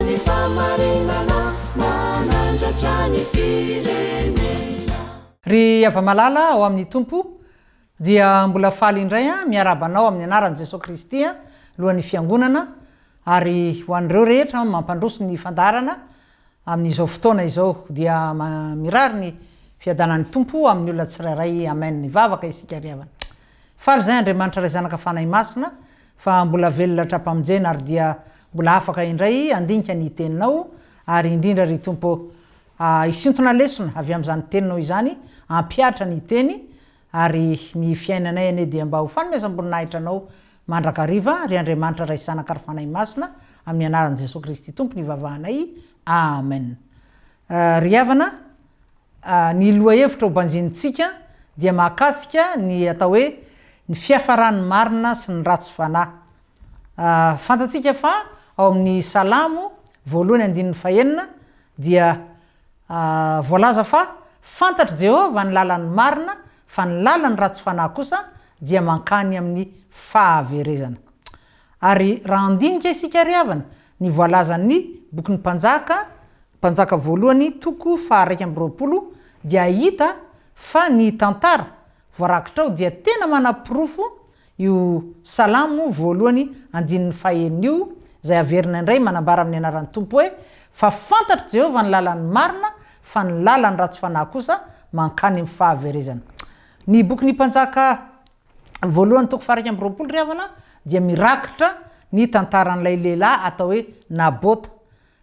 Ny fahamarinana manandratra ny firenena. Ry hava-malala ao amin'ny Tompo, dia mbola faly indray miarahaba anao amin'ny anaran'i Jesoa Kristy, Lohan'ny Fiangonana, ary ho an'ireo rehetra mampandroso ny fandaharana amin'izao fotoana izao, dia mirary ny fiadanan'ny Tompo amin'ny olona tsirairay. Amen. Hivavaka isika ry havana. Faly izay Andriamanitra Ray Zanaka Fanahy Masina, fa mbola velona hatrampamonjena ary dia mbola afaka indray andinika ny teninao ary indrindra ry Tompo ah hisintona lesona avy amin'izany teninao izany hampihatra ny teny ary ny fiainanay anie dia mba ho fanomezam-boninahitra anao mandrakariva ry Andriamanitra Ray Zanaka ary Fanahy Masina amin'ny anaran'i Jesoa Kristy Tompo no ivavahanay Amen ry havana Ny lohahevitra hobanjinintsika dia mahakasika ny atao hoe ny fiafaran'ny marina sy ny ratsy fanahy. Fantatsika fa ao amin'ny Salamo voalohany andininy fahenina dia voalaza fa fantatr'i Jehovah ny lalan'ny marina, fa ny lalan'ny ratsy fanahy kosa dia mankany amin'ny fahaverezana. Ary raha handinika isika ry havana ny voalazan'ny bokin'ny Mpanjaka Mpanjaka voalohany toko faha iraika amby roapolo dia hahita fa ny tantara voarakitra ao dia tena manaporofo io Salamo voalohany andininy faha enina io izay averina indray manambara amin'ny anaran'ny Tompo hoe, Fa fantatr'i Jehovah ny lalan'ny marina, fa ny lalan'ny ratsy fanahy kosa mankany amin'ny fahaverezana. Ny bokin'ny Mpanjaka voalohany toko faha iraika amby roapolo ry havana dia mirakitra ny tantaran'ilay lehilahy atao hoe Nabota.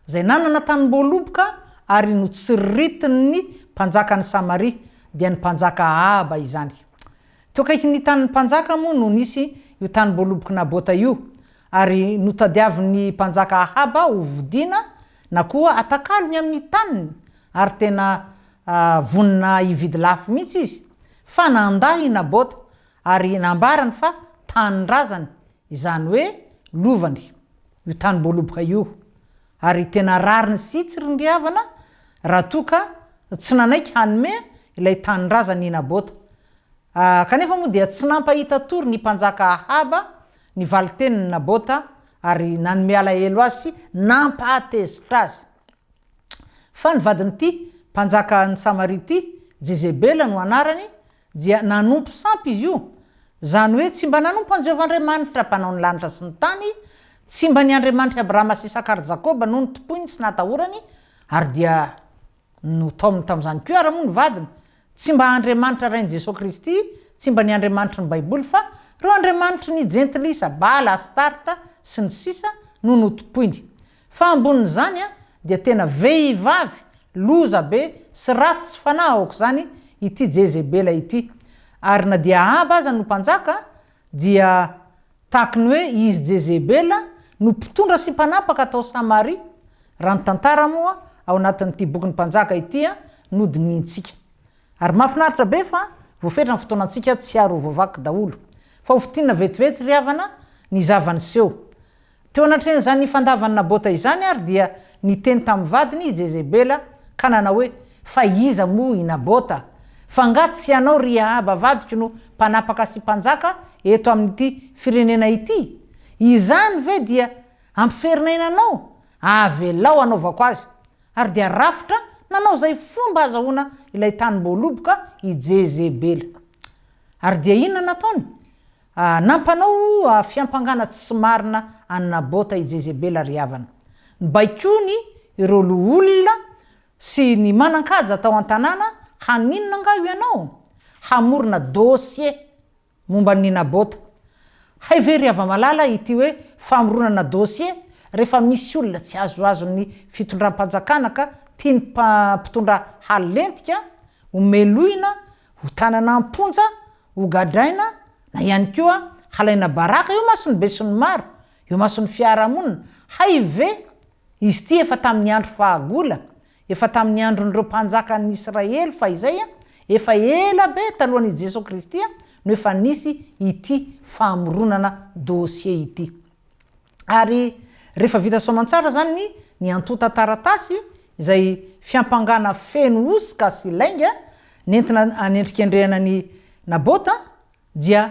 Izay nanana tanimboaloboka ary notsiritin' ny mpanjakan' ny Samaria, dia ny mpanjaka Ahaba izany. Teo akaikin' ny tanin' ny mpanjaka moa no nisy io tanimboalobok' i Nabota io, ary notadiavin' ny mpanjaka Ahaba ho vodiana na koa atakalony amin' ny taniny, ary tena vonona hividy lafo mihitsy izy, fa nandà i Nabota, ary nambarany fa tanindrazany Izany hoe lovany io tanim-boaloboka io ary tena rariny sy tsy rindriavana raha toa ka tsy nanaiky hanome ilay tanindrazany i Nabota. Kanefa moa dia tsy nampahita tory ny mpanjaka Ahaba ny valin-tenin'i Nabota ary nanome alahelo azy sy nampahatezitra azy fa ny vadin'ity mpanjakan'i Samaria ity, Jezebela no anarany, dia nanompo sampy izy io, izany hoe tsy mba nanompo an'i Jehovah Andriamanitra, Mpanao ny lanitra sy ny tany, tsy mba ny Andriamanitr'i Abrahama sy Isaka ary Jakoba no notompoiny sy natahorany, ary dia notaominy tamin'izany koa ary moa ny vadiny. Tsy mba Andriamanitra Rain'i Jesoa Kristy, tsy mba ny Andriamanitry ny Baiboly, fa ireo andriamanitry ny Jentilisa, Bala, Astarta, sy ny sisa, no notompoiny. Fa ambonin'izany dia tena vehivavy loza be sy ratsy fanahy aok'izany ity Jezebela ity. Ary na dia Ahaba aza no mpanjaka dia tahaky ny hoe izy Jezebela no mpitondra sy mpanapaka tao Samaria, raha ny tantara moa ao anatin'ity bokin'ny Mpanjaka ity no dinihintsika. Ary mahafinaritra be fa voafetra ny fotoanantsika tsy ary ho voavaky daholo. Fa hofintinina vetivety ry havana ny zava-niseho. Teo anatrehan'izany fandavan'i Nabota izany àry dia niteny tamin'ny vadiny i Jezebela ka nanao hoe, Fa iza moa i Nabota? Fa angaha tsy ianao, ry Ahaba vadiko, no mpanapaka sy mpanjaka eto amin'ity firenena ity? Izany ve dia hampiferin'aina anao? Avelao hanaovako azy. Ary dia rafitra nanao izay fomba hahazahoana ilay tanim-boaloboka i Jezebela. Ary dia inona nataony? Aa nampanao fiampangana tsy marina an'i Nabota i Jezebela ry havana. Nobaikoiny ireo loholona sy ny manan-kaja tao an-tanàna haninona angaha ianao? Hamorona dossier momba an'i Nabota. Hay ve ry hava-malala ity hoe famoronana dossier rehefa misy olona tsy azoazon'ny fitondram-panjakana ka tian'ny mpitondra halentika ho melohina ho tanana am-ponja Hogadraina na ihany koa halaina baraka eo mason'ny besinimaro, eo mason'ny fiarahamonina, hay ve izy ity efa tamin'ny andro fahagola, efa tamin'ny andron'ireo mpanjakan'ny Israely fahizay a, efa ela be talohan' i Jesoa Kristy no efa nisy ity famoronana dossier ity. ary rehefa vita soamantsara izany ny ny antontan-taratasy izay fiampangana feno hosoka sy lainga nentina anendrikendrehana ny Nabota, dia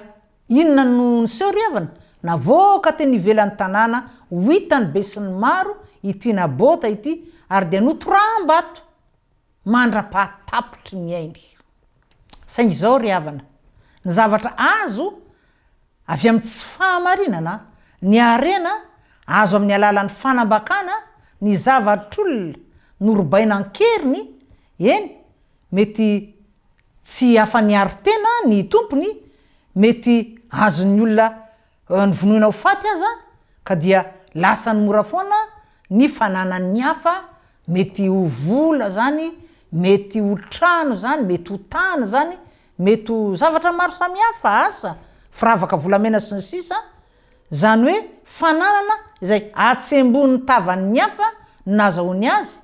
inona no niseho ry havana? Navoaka teny ivelan'ny tanàna ho hitan'ny besinimaro ity Nabota ity ary dia notoram-bato. mandra-pahatapitry ny ainy. Saingy izao ry havana, ny zavatra azo avy amin'ny tsy fahamarinana, ny harena azo amin'ny alalan'ny fanambakana ny zavatr'olona norobaina an-keriny, eny, mety tsy afa-niaro tena ny tompony, mety azon'ny olona Novonoina ho faty aza, ka dia lasany mora foana ny fananan'ny hafa, mety ho vola izany, mety ho trano izany, mety ho tany izany, mety ho zavatra maro samihafa, asa, firavaka volamena sy ny sisa, izany hoe fananana izay atsembohin'ny tavan'ny hafa nazahoany azy,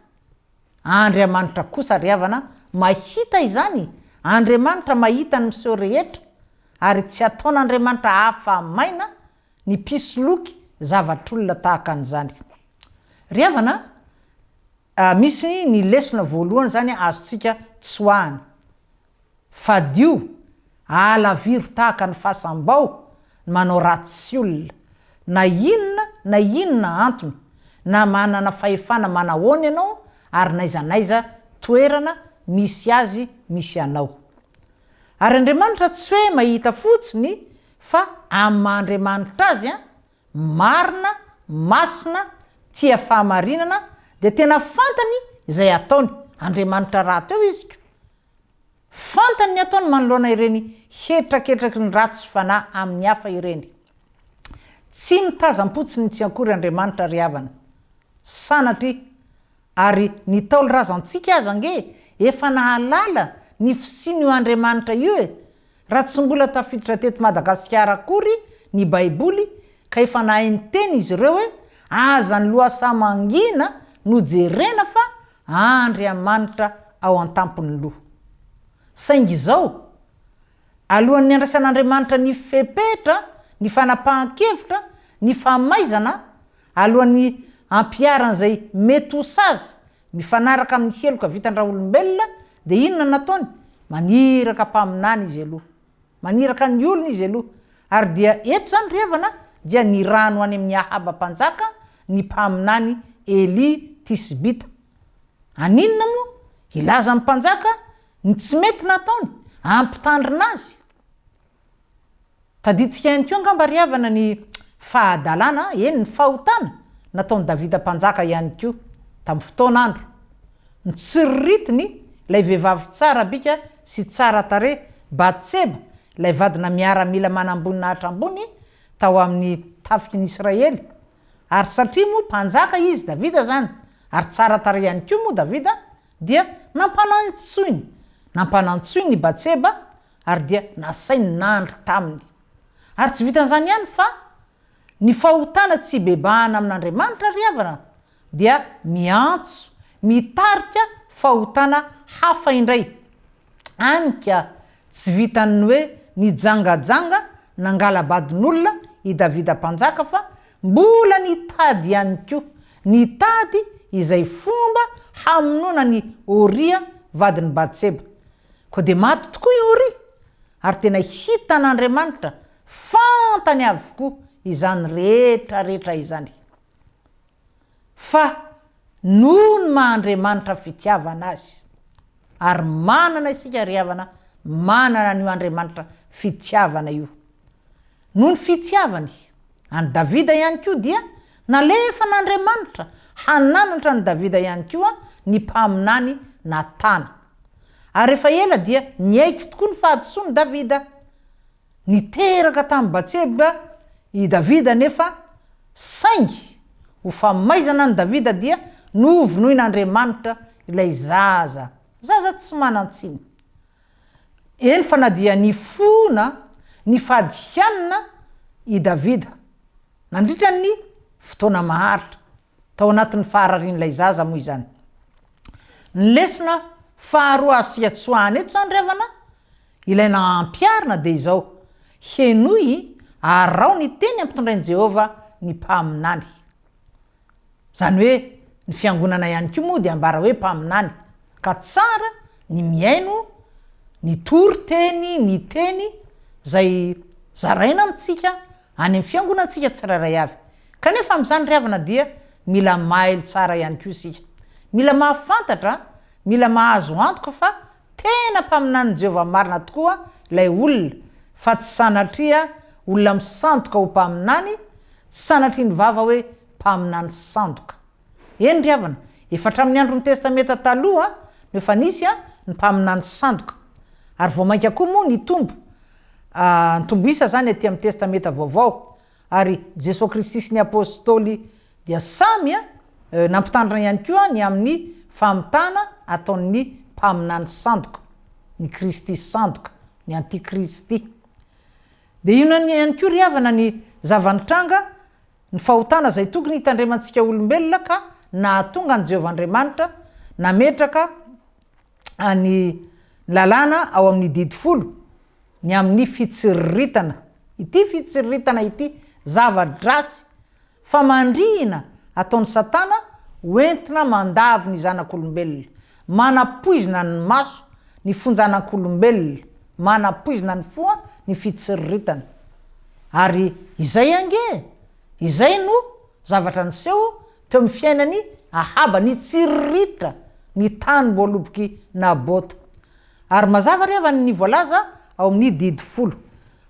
Andriamanitra kosa ry havana mahita izany, Andriamanitra mahita ny miseho rehetra ary tsy ataon'Andriamanitra afa-maina ny mpisoloky zavatr'olona tahaka an'izany. Ry havana a, misy ny lesona voalohany izany azontsika tsoahana, Fadio, ahalaviro tahaka ny fasam-bao ny manao ratsy olona, na inona na inona antony, na manana fahefana manahoana ianao ary n'aiza n'aiza toerana misy azy misy anao. Ary Andriamanitra tsy hoe mahita fotsiny fa amin'ny maha Andriamanitra Azy an, marina, masina, tia fahamarinana, dia tena fantany izay ataony, Andriamanitra rahateo izy ko, Fantany ny ataony manoloana ireny hetraketraky ny ratsy fanahy amin'ny hafa ireny. Tsy mitazam-potsiny tsy akory Andriamanitra ry havana. Sanatria! Ary ny Ntaolo razantsika aza ange efa nahalala ny fisian'io Andriamanitra io e! Raha tsy mbola tafiditra teto Madagasikara akory ny Baiboly ka efa nahay niteny izy ireo hoe aza ny lohasaha mangina no jerena fa Andriamanitra ao an-tampon'ny loha. Saingy izao, alohan'ny handraisan'Andriamanitra ny fepetra, ny fanapahan-kevitra, ny famaizana, alohan'ny hampiharany izay mety ho sazy Mifanaraka amin'ny heloka vitan-dRaolombelona dia inona no nataony? Maniraka mpaminany izy aloha. Maniraka ny olony izy aloha. Ary dia eto izany ry havana dia nirano any amin'i Ahaba mpanjaka ny mpaminany Elia Tisbita. Aninona moa? Hilaza amin'ny mpanjaka ny tsy mety nataony? Hampitandrina azy? Tadidintsika ihany koa angamba ry havana ny fahadalana, eny ny fahotana, nataon'i Davida mpanjaka ihany koa, tamin'ny fotoana andro. Notsiriritiny ilay vehivavy tsara bika sy tsara tarehy, Batseba, ilay vadina miaramila manamboninahitra ambony tao amin'ny tafiky ny Israely. Ary satria moa mpanjaka izy, Davida, izany, ary tsara tarehy ihany koa moa Davida, dia nampanantsoiny, nampanantsoiny i Batseba Ary dia nasainy nandry taminy. Ary tsy vitan'izany ihany fa ny fahotana tsy hibebahana amin'Andriamanitra ry havana dia miantso, mitarika fahotana hafa indray. Any ka, tsy vitan'ny hoe nijangajanga nangala-badin'olona i Davida Mpanjaka fa mbola nitady ihany koa, nitady izay fomba hamonoana an'i Oria vadin'i Batseba. Koa dia maty tokoa i Oria, ary tena hitan'Andriamanitra, fantany avokoa izany rehetrarehetra izany. Fa noho ny maha Andriamanitra fitiavana azy, ary manana isika ry havana, manana an'io Andriamanitra fitiavana io, Noho ny fitiavany an'i Davida ihany koa dia nalefan'Andriamanitra hananatra an'i Davida ihany koa ny mpaminany Natana. Ary efa ela dia niaiky tokoa ny fahadisoan'i Davida. Niteraka tamin'i Batseba i Davida anefa, saingy ho famaizana an'i Davida dia novonoin'Andriamanitra ilay zaza, zaza tsy manan-tsiny. Eny fa na dia nifona nifady hianina i Davida nandritra ny fotoana maharitra tao anatin'ny fahararian'ilay zaza moa izany. Ny lesona faharoa azontsika tsoahina eto izany ry havana, ilay nampiharina dia izao, Henoy, araho ny teny ampitondrain'i Jehovah ny mpaminany. Izany hoe ny fiangonana ihany koa moa dia ambara hoe mpaminany, ka tsara ny mihaino ny tory teny ny teny izay zaraina amintsika any amin'ny fiangonantsika tsirairay avy. Kanefa amin'izany ry havana dia mila mailo tsara ihany koa isika. Mila mahafantatra, mila mahazo antoka fa Tena mpaminanin'i Jehovah marina tokoa ilay olona, fa tsy sanatria olona misandoka ho mpaminany, tsy sanatria ny vava hoe mpaminany sandoka. Eny ry havana, efa hatramin'ny andron'ny Testamenta Taloha no efa nisy ny mpaminany sandoka, ary vao mainka koa moa nitombo, nitombo isa izany atỳ amin'ny Testamenta Vaovao. Ary Jesoa Kristy sy ny Apôstôly dia samy nampitandrina ihany koa ny amin'ny famitana ataon'ny mpaminany sandoka, ny Kristy sandoka, ny antikristy. Dia inona ihany koa ry havana ny zava-nitranga, ny fahotana izay tokony hitandremantsika olombelona ka nahatonga an'i Jehovah Andriamanitra nametraka ny lalàna ao amin'ny didy folo ny amin'ny fitsiriritana ity fitsiriritana ity, zava-dratsy, famandrihina ataon'i Satana ho entina mandavo ny zanak'olombelona, manapoizina ny maso ny fonjanak'olombelona, manapoizina ny fo ny fitsiriritana. Ary izay ange e! Izay no zavatra niseho Teo amin'ny fiainan'i Ahaba, nitsiriritra ny tany voalobok'i Nabota. Ary mazava re avany ny voalaza ao amin'ny Didy folo.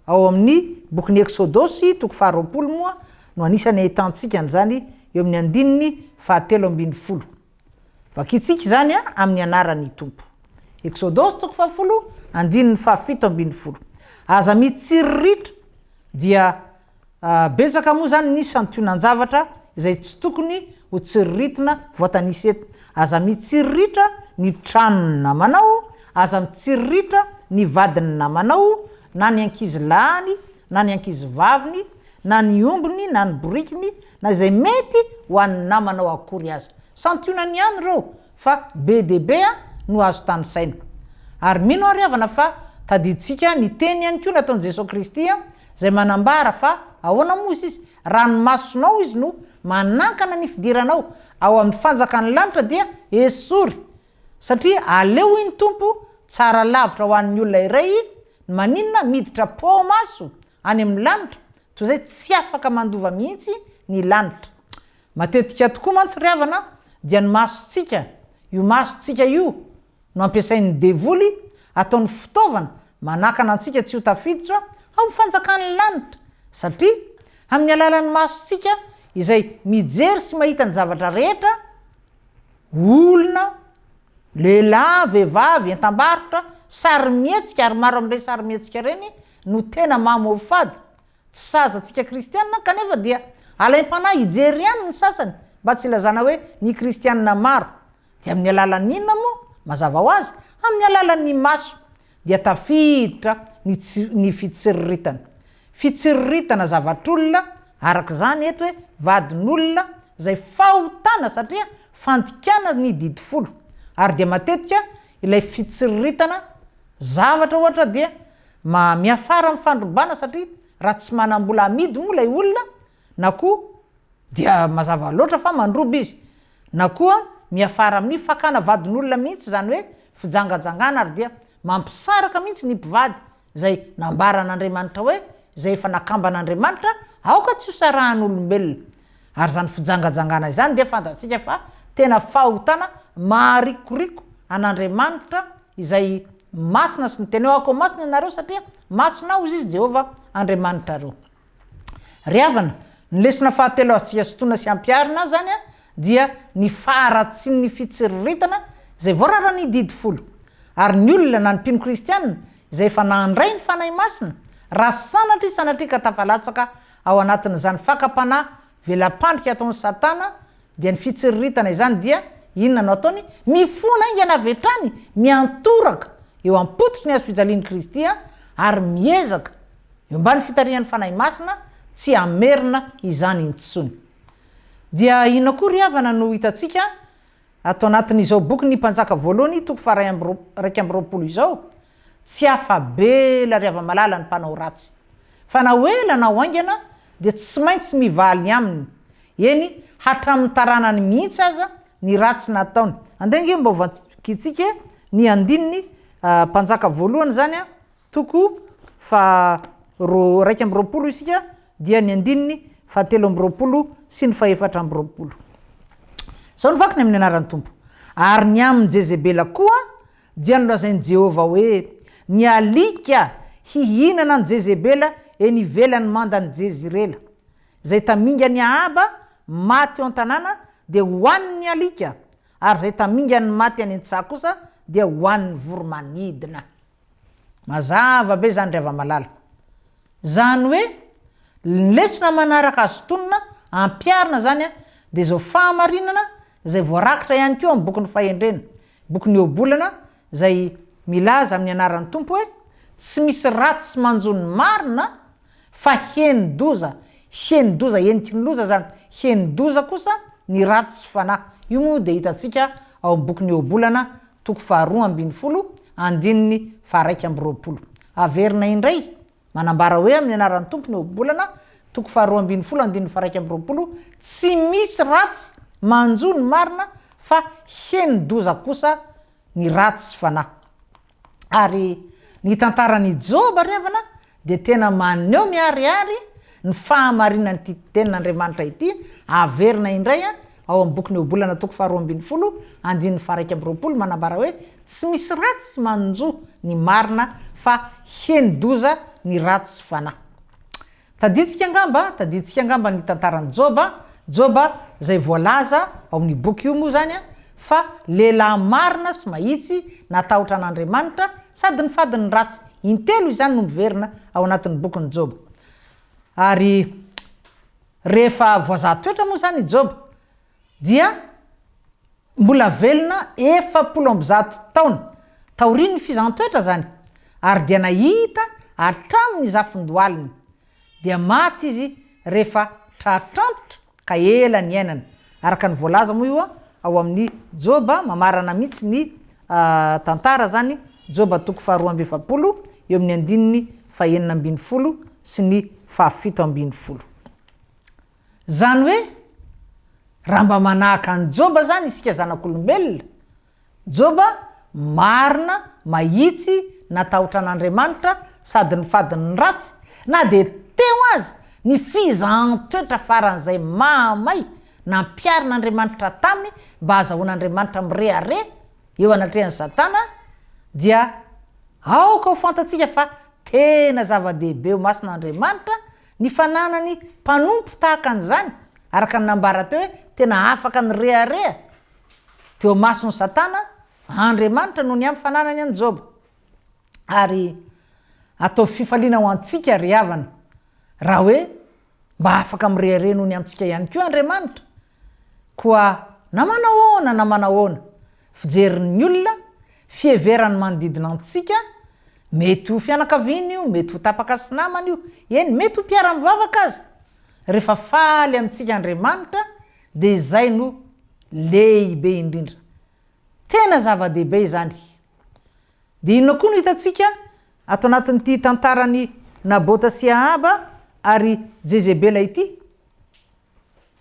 Ao amin'ny bokin'ny Eksodosy, toko faharoapolo, moa no anisan'ny ahitantsika an'izany eo amin'ny andininy fahatelo ambin'ny folo. Vakintsika izany amin'ny anaran'ny Tompo. Eksodosy toko fahafolo, andininy fahafito ambin'ny folo. Aza mitsiriritra, dia Betsaka moa izany ny santionan-javatra izay tsy tokony ho tsiriritina voatanisa eto. Aza mitsiriritra ny tranon'ny namanao, aza mitsiriritra ny vadin'ny namanao, na ny ankizy lahiny, na ny ankizy vaviny, na ny ombiny, na ny borikiny, na izay mety ho an'ny namanao akory aza. Santionany ihany ireo fa be dia be no azo tanisaina. Ary mino aho ry havana fa tadidintsika ny teny ihany koa nataon'i Jesoa Kristy izay manambara fa ahoana moa hozy izy, raha ny masonao izy no manankana ny fidiranao ao amin'ny fanjakan'ny lanitra dia esory satria aleo hoy ny Tompo tsara lavitra ho an'ny olona iray ny maninona miditra poa ao maso Any amin'ny lanitra, toy izay tsy afaka mandova mihitsy ny lanitra. Matetika tokoa mantsy ry havana dia ny masontsika, io masontsika io no ampiasain'ny devoly ataony fitaovana manakana antsika tsy ho tafiditra ao amin'ny fanjakan'ny lanitra, satria amin'ny alalan'ny masontsika izay mijery sy mahita ny zavatra rehetra, olona, Lehilahy, vehivavy, entam-barotra, sarimihetsika ary maro amin'ireny sarimihetsika ireny no tena maha-mofo-fady. Tsy saza antsika kristianina kanefa dia alaim-panahy hijery ihany ny sasany mba tsy hilazana hoe ny kristianina maro. Dia amin'ny alalan'ny inona moa? Mazava ho azy, amin'ny alalan'ny maso. dia tafiditra ny tsy, ny fitsiriritana. Fitsiriritana zavatr'olona, araka izany eto hoe vadin'olona, izay fahotana satria fandikana ny didy folo. Ary dia matetika ilay fitsiriritana zavatra ohatra dia miafara amin'ny fandrobana satria raha tsy manam-bola amidy moa ilay olona na koa. Dia mazava loatra fa mandroba izy. Na koa miafara amin'ny fakana vadin'olona mihitsy izany hoe fijangajangana ary dia mampisaraka mihitsy ny mpivady izay nambaran'Andriamanitra hoe izay efa nakamban'Andriamanitra aoka tsy hosarahan'olombelona. Ary izany fijangajangana izany dia fantatsika fa tena fahotana maharikoriko an'Andriamanitra izay masina sy ny tenao akoa masina ianareo satria masina hozy izy Jehovah Andriamanitrareo. Ry havana, ny lesona fahatelo azontsika sintonina sy ampiharina izany dia ny faharatsian'ny fitsiriritana izay voararan'ny Didy Folo. Ary ny olona na ny mpino kristiana izay efa nandray ny Fanahy Masina, raha sanatria sanatria ka tafalatsaka ao anatin'izany fakam-panahy Vela-pandrika ataon'i Satana dia ny fitsiriritana izany dia, inona no ataony? Mifona haingana avy hatrany miantoraka eo am-pototry ny hazo fijalian'i Kristy ary miezaka, eo ambany fitarihan'ny Fanahy Masina, tsy hamerina izany intsony. Dia inona koa ry havana no hitantsika Ato anatin'izao boky Ny Mpanjaka Voalohany, toko faha iraika amby roapolo izao, tsy afa-be ela ry hava-malala ny mpanao ratsy. Fa na ho ela na ho haingana dia tsy maintsy mivaly aminy, eny, hatramin'ny taranany mihitsy aza, ny ratsy nataony. Andeha ange mba ho vakintsika ny andininy Mpanjaka Voalohany izany an! Toko faha roa iraika amby roapolo isika dia ny andininy fahatelo amby roapolo sy ny fahefatra amby roapolo. Izao no vakiny amin'ny anaran'ny Tompo, Ary ny amin'i Jezebela koa dia nolazain'i Jehovah hoe, Ny alika hihinana an'i Jezebela eny ivelan'ny mandan'i Jezirela. Izay tamingan'i Ahaba maty eo an-tanàna dia hohanin'ny alika, ary izay tamingan'ny maty any an-tsaha kosa dia hohanin'ny voromanidina. Mazava be izany ry hava-malala. Izany hoe, ny lesona manaraka azo tonona ampiharina izany dia izao fahamarinana izay voarakitra ihany koa amin'ny bokin'ny Fahendrena, bokin'ny Ohabolana izay milaza amin'ny anaran'ny Tompo hoe, Tsy misy ratsy manjo ny marina, Fa henon-doza, henon-doza heniky ny loza izany, henon-doza kosa ny ratsy sy fanahy. Io moa dia hitantsika ao amin'ny bokin'ny Ohabolana, toko faharoa ambin'ny folo, andininy faharaika amby roapolo. Averina indray, manambara hoe amin'ny anaran'ny Tompo ny Ohabolana, toko faharoa ambin'ny folo, andininy faharaika amby roapolo, Tsy misy ratsy manjo ny marina, fa henon-doza kosa ny ratsy sy fanahy. Ary ny tantaran'i Joba ry havana dia tena maneho miharihary ny fahamarinan'ity tenin'Andriamanitra ity, averina indray ao amin'ny bokin'ny Ohabolana toko faharoa ambin'ny folo andininy faharaika amby roapolo manambara hoe tsy misy ratsy manjo ny marina fa heni-doza ny ratsy fanahy. Tadintsika angamba, tadintsika angamba ny tantaran'i Joba, Joba izay voalaza ao amin'io boky io moa izany fa lehilahy marina sy mahitsy, natahotra an'Andriamanitra, sady nifady ny ratsy. Intelo izany no miverina ao anatin'ny bokin'i Joba. Ary rehefa voazaha toetra moa izany i Joba. dia mbola velona efapolo amby zato taona taorian'ny fizaham-toetra izany, ary dia nahita hatramin'ny zafin-dohaliny, dia maty izy rehefa tratr' antitra ka ela niainana, araka ny voalaza moa io ao amin'ny Joba, mamarana mihitsy ny tantara izany, Joba toko faharoa amby efapolo, eo amin'ny andininy fahenina ambin'ny folo sy ny fahafito ambin'ny folo. Zany hoe raha mba manahaka an'i Joba zany isika zanak'olombelona, Joba marina, mahitsy, natahotra an'Andriamanitra sady nifady ny ratsy, na dia teo aza ny fizahan-toetra faran'izay mahamay nampiharin'Andriamanitra taminy mba hazahoan'Andriamanitra mirehareha eo anatrehan'i Satana, dia aoka ho fantatsika fa tena zava-dehibe ho masina Andriamanitra Ny fananany mpanompo tahaka an'izany, araka ny nambara teo hoe tena afaka nirehareha teo imason'i Satana, Andriamanitra no niampy fananany an'i Joba. Ary ataovy fifaliana ho antsika, ry havana, raha hoe mba afaka mirehareha noho ny amintsika ihany koa Andriamanitra, Koa na manao ahoana na manao ahoana, fijerin'ny olona, fiheverany manodidina antsika, mety ho fianakaviana io, mety ho tapaka sy namana io, eny mety ho mpiara-mivavaka aza, rehefa faly amintsika Andriamanitra dia izay no lehibe indrindra. Tena zava-dehibe izany. Dia inona koa no hitantsika ato anatin'ity tantaran'i Nabota sy Ahaba ary Jezebela ity?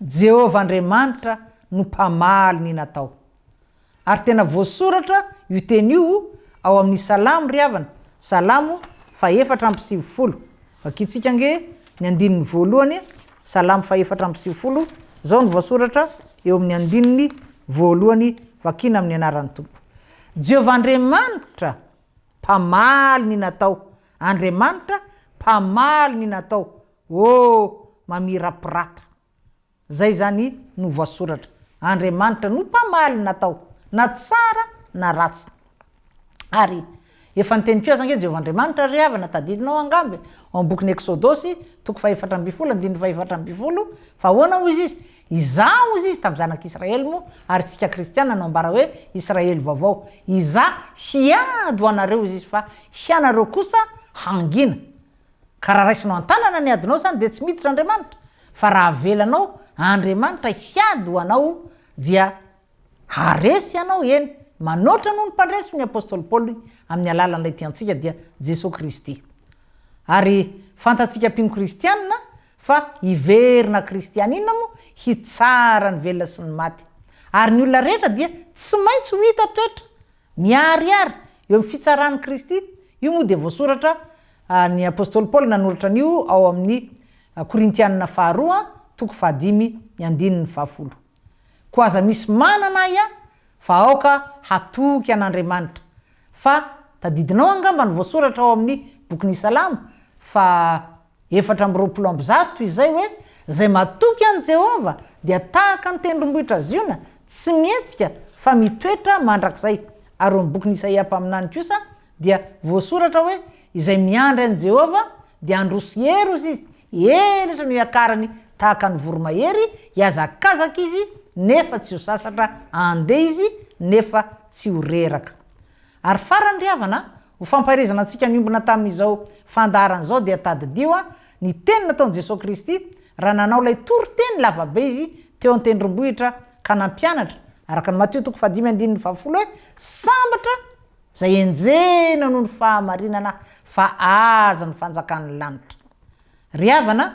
Jehovah Andriamanitra no mpamaly ny natao. Ary tena voasoratra io teny io ao amin'ny Salamo ry havana, Salamo fahefatra amby sivifolo. Vakintsika ange ny andininy voalohany, Salamo fahefatra amby sivifolo, izao no voasoratra eo amin'ny andininy voalohany, vakina amin'ny anaran'ny Tompo. Jehovah Andriamanitra mpamaly ny natao, Andriamanitra mpamaly ny natao. Oh! mamirapiratra. Zay zany no voasoratra. Andriamanitra no mpamaly natao na tsara na ratsy. Ary efa niteny koa aza ange Jehovah Andriamanitra, ry havana, tadidinao angamba e, ao amin'ny bokin'ny Eksodosy, toko fahefatra ambin'ny folo, andininy fahefatra ambin'ny folo, fa ahoana hoy izy izy, Izaho hoy izy tamin'ny zanak'Israely moa, ary isika kristiana no ambara hoe Israely vaovao, Izaho hiady ho anareo hoy izy fa hianareo kosa hangina. Ka raha raisinao an-tanana ny adinao izany dia tsy miditra Andriamanitra, fa raha avelanao Andriamanitra hiady ho anao dia haharesy ianao, eny, manoatra noho ny mpandresy hoy ny apostoly Paoly amin'ny alalan'ilay tiantsika dia Jesoa Kristy. Ary fantatsika mpino kristianina fa hiverina kristianina moa hitsara ny velona sy ny maty. Ary ny olona rehetra dia tsy maintsy ho hita toetra Miharihary eo amin'ny fitsaran'i Kristy, io moa dia voasoratra, ny apostoly Paoly nanoratra an'io ao amin'ny Korintianina faharoa toko fahadimy ny andininy fahafolo. Koa aza misy manana ahy aho fa aoka hatoky an'Andriamanitra, fa tadidinao angamba ny voasoratra ao amin'ny bokin'ny Salamo fa. efatra amby roapolo amby zato izay hoe, Izay matoky an'i Jehovah dia tahaka ny tendrombohitra Ziona, tsy mihetsika fa mitoetra mandrakizay. Ary eo amin'ny bokin'i Isaia mpaminany kosa dia voasoratra hoe, Izay miandry an'i Jehovah dia handroso heros izy, elatra no hiakarany tahaka ny voromahery, hihazakazaka izy nefa tsy ho sasatra, handeha izy nefa tsy ho reraka. Ary farany ry havana, ho fampaherezana antsika miombona tamin'izao fandaharana izao dia tadidio ny teny nataon'i Jesoa Kristy raha nanao ilay toriteny lavabe Izy teo an-tendrombohitra ka nampianatra, araka ny Matio toko fahadimy andininy fahafolo hoe, Sambatra izay enjehina noho ny fahamarinana fa azy ny fanjakan'ny lanitra. Ry havana,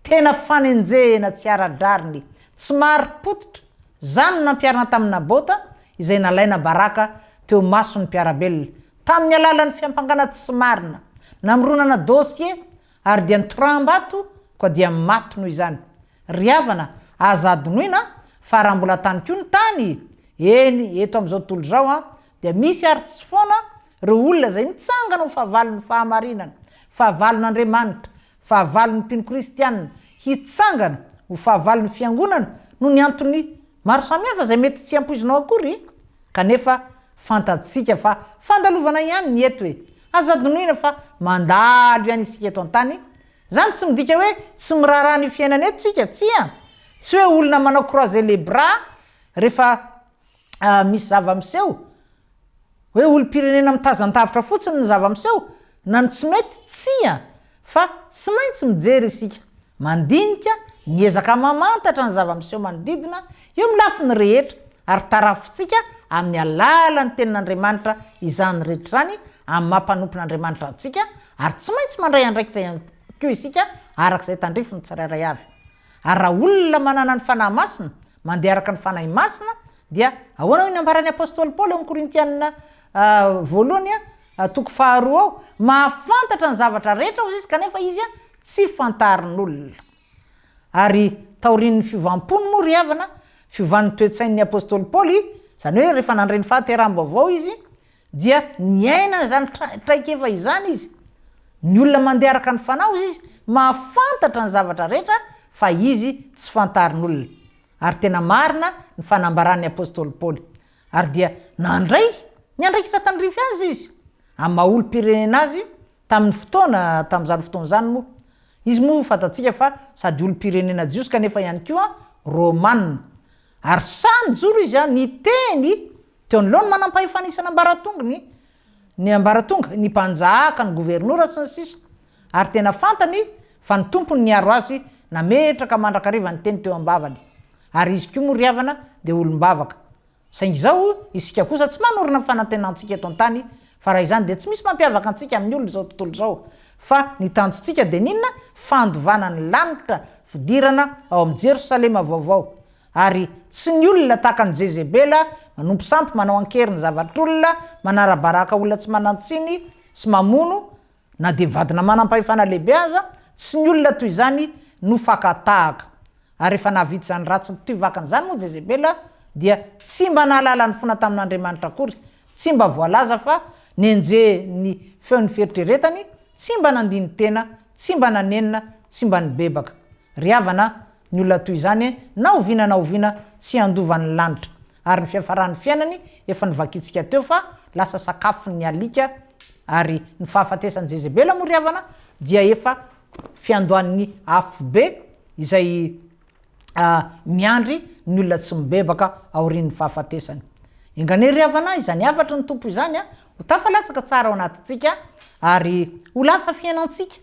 Tena fanenjehena tsy ara-drariny, tsy marim-pototra, izany no nampiharina tamin'i Nabota, izay nalaina baraka teo mason'ny mpiara-belona, tamin'ny alalan'ny fiampangana tsy marina, namoronana dosie, ary dia nitoram-bato koa dia maty noho izany. Ry havana, aza adinoina fa raha mbola tany koa ny tany, eny, eto amin'izao tontolo izao, dia misy ary tsy foana ireo olona izay mitsangana ho fahavalon'ny fahamarinana, fahavalon'Andriamanitra, Fahavalon'ny mpino kristiana hitsangana ho fahavalon'ny Fiangonana noho ny antony maro samihafa izay mety tsy ampoizinao akory, kanefa fantatsika fa fandalovana ihany ny eto e! Aza adinoina fa mandalo ihany isika eto an-tany, izany tsy midika hoe tsy miraharaha an'io fiainana io tsika, tsia! Tsy hoe olona manao croiser les bras rehefa ah, misy zava-miseho, hoe olom-pirenena mitazan-davitra fotsiny ny zava-miseho, na ny tsy mety, tsia, fa tsy maintsy mijery isika, mandinika, miezaka mamantatra ny zava-miseho manodidina, eo amin'ny lafiny rehetra, ary tarafintsika amin'ny alalan'ny Tenin'Andriamanitra izany rehetra izany, amin'ny maha-mpanompon'Andriamanitra antsika, ary tsy maintsy mandray andraikitra ihany koa isika, araka izay tandrifin'ny tsirairay avy. Ary raha olona manana ny Fanahy Masina, mandeha araka ny Fanahy Masina, dia ahoana hoy ny ambaran'ny Apostoly Paoly ao amin'ny Korintiana voalohany toko faharoa ao, mahafantatra ny zavatra rehetra hozy izy kanefa izy tsy fantarin'olona. Ary taorian'ny fiovam-pony moa ry havana, fiovan'ny toe-tsain'ny Apostoly Paoly, izany hoe rehefa nandre ny fahateraham-baovao izy, Dia niaina izany traikefa izany izy. Ny olona mandeha araka ny fanahy, hoy izy, mahafantatra ny zavatra rehetra fa izy tsy fantarin'olona. Ary tena marina ny fanambaran'ny apostoly Paoly. Ary dia nandray ny andraikitra tandrify azy izy, amin'ny maha olom-pirenena azy tamin'ny fotoana tamin'izany fotoana izany moa. Izy moa fantatsika fa sady olom-pirenena jiosy kanefa ihany koa Romana. Ary sahy nijoro izy niteny Teo anoloan'ny manampahefana isan'ambaratongony, ny ambaratonga, ny mpanjaka, ny governora, sy ny sisa Ary tena fantany fa ny tompony niaro azy nametraka mandrakariva ny teny teo am-bavany. Ary izy koa moa ry havana dia olom-bavaka. Saingy izao isika kosa tsy manorina ny fanantenantsika eto an-tany fa raha izany dia tsy misy mampiavaka antsika amin'ny olona izao tontolo izao fa ny tanjontsika dia ny inona? Fandovana ny lanitra, fidirana ao amin'ny Jerosalema vaovao. Ary tsy ny olona tahaka an'i Jezebela, manompo sampy, manao an-kery ny zavatr'olona, manara-baraka olona tsy manan-tsiny sy mamono, na dia vadina manam-pahefana lehibe aza, tsy ny olona toy izany no fakan-tahaka. Ary rehefa nahavita izany ratsy toy vakana izany moa Jezebela, dia tsy mba nahalala ny fona tamin'Andriamanitra akory, tsy mba voalaza fa nenjehin'ny feon'ny fieritreretany, tsy mba nandini-tena, tsy mba nanenina, tsy mba nibebaka. Ry havana, Ny olona toy izany, na oviana na oviana, tsy handova ny lanitra, ary ny fiafaran'ny fiainany, efa novakintsika teo fa lasa sakafon'ny alika, ary ny fahafatesan'i Jezebela moa ry havana dia efa fiandohan'ny afobe izay miandry ny olona tsy mibebaka aorian'ny fahafatesany. Enganey ry havana, izany hafatry ny Tompo izany ho tafalatsaka tsara ao anatintsika, ary ho lasa fiainantsika.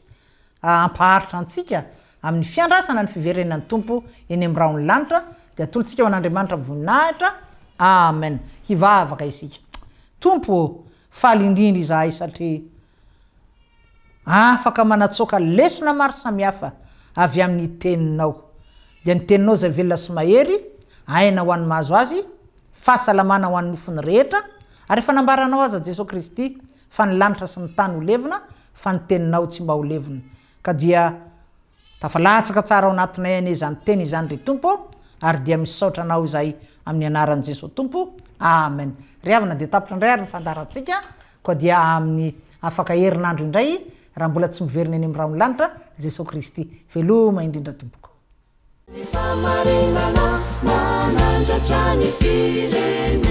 hampaharitra antsika amin'ny fiandrasana ny fiverenan'ny Tompo eny amin'ny rahon'ny lanitra dia atolotsika ho an'Andriamanitra amin'ny voninahitra Amen hivavaka isika Tompo ô faly indrindra izahay satria afaka manatsoaka lesona maro samihafa avy amin'ny teninao dia ny teninao izay velona sy mahery aina ho an'ny mahazo azy fahasalamana ho an'ny nofony rehetra ary efa nambaranao aza Jesoa Kristy Fa ny lanitra sy ny tany ho levona, fa ny teninao tsy mba ho levona. Ka dia tafalatsaka tsara ao anatinay anie izany teny izany ry Tompo ô, ary dia misaotra Anao izahay amin'ny anaran'i Jesoa Tompo, Amen. Ry havana dia tapitra indray ary ny fandaharantsika, koa dia amin'ny afaka herinandro indray, raha mbola tsy miverina eny amin'ny rahon'ny lanitra, Jesoa Kristy. Veloma indrindra tompoko. Ny fahamarinana manandratra ny firenena.